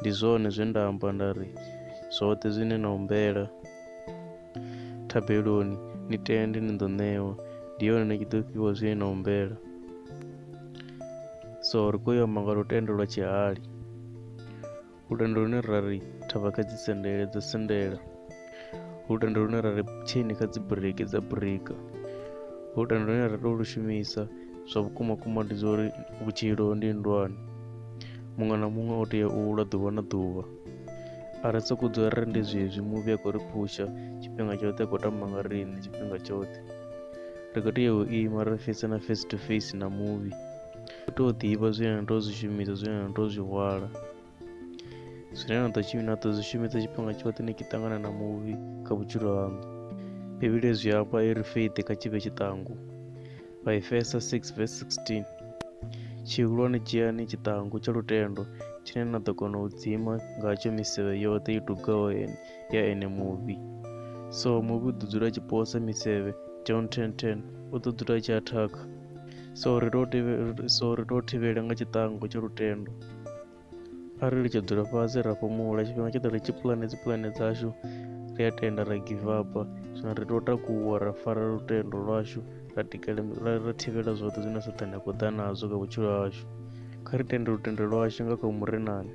Ndi zwone zwe nda amba nda ri, Zwoṱhe zwine na humbela thabeloni, ni tende ni ḓo ṋewa. Ndi hone ni tshi ḓo fhiwa zwine na humbela. So ri khou ya amba nga lutendo lwa tshihali, lutendo lune ra ri thavha kha dzi sendele dza sendela. lutendo lune ra ri tsheni kha dzi bureki dza bureka lutendo lune ra tou lu shumisa zwa vhukuma kuma ndi zwa uri vhutshilo ndi ndwani muṅwe na muṅwe o tea u lwa ḓuvha na ḓuvha a ri sokou dzula ri ndi zwezwi muvhi a khou ri phusha tshifhinga tshoṱhe a khou tamba nga riṋe tshifhinga tshoṱhe ri khou tea u ima ri face na face to face na muvhi u tou ḓivha zwine na tou zwi shumisa zwine na tou zwi hwala Zwine na ḓo tshi na ḓo zwi shumisa tshifhinga tshoṱhe ni tshi ṱangana na muvhi kha vhutshilo haṋu bivhili zwi amba i ri faith kha tshi vhe tshiṱangu vhaefesa 6 vs 16 tshihulwane dzhiani tshiṱangu tsha lutendo tshine na ḓo kona u dzima ngatsho misevhe yoṱhe i dugaho ya ene muvhi so muvhi u ḓo dzula tshi posa misevhe john 1010 u ḓo dzula tshi athaka so ri tou thivhela nga tshiṱangu tsha lutendo arali ri tshi dzula fhasi ra fhumula tshifhinga tshoṱhe ri tshi pulane dzi pulane dzashu ri a tenda ra give up zwino ri tea u takuwa ra fara lutendo lwashu ra tikela ra thivhela zwoṱhe zwine sathane a khou ḓa nazwo kha vhutshilo hashu kha ri tende lutendo lwashu nga kha murenani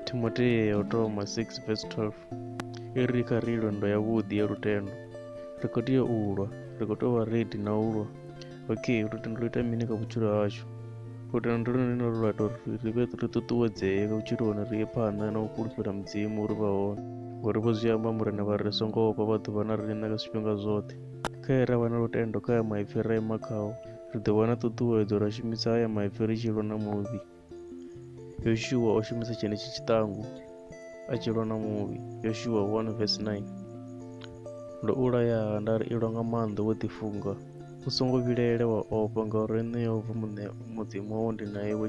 timotea ya u thoma 6 vs 12 i ri kha ri lwendo yavhuḓi ya lutendo ri khou tea u lwa ri khou tea u vha redi na u lwa okay lutendo lwo ita mini kha vhutshilo hashu lutendo ndi lune lwa ita uri ri vhe ri ṱuṱuwedzee kha vhutshiloni ri ye phanḓa na u fhulufhela mudzimu uri vha hone ngori vho zwi amba murena vha ri songo ofha vha ḓuvha na riṋe nga zwifhinga zwoṱhe kha ye ra vha na lutendo kha ya maipfi ra ima khao ri ḓo vha na ṱuṱuwedzo ra shumisa haya maipfi ri tshi lwa na muvhi yoshuwa o shumisa tshenetshi tshiṱangu a tshi lwa na muvhi yoshuwa 1 vs 9 ndo u layaha nda ri ilwa nga maanḓa wo ḓifunga u songo vhilaele wa ofha ngauri nṋe yehova muṋe mudzimu wawo ndi na iwe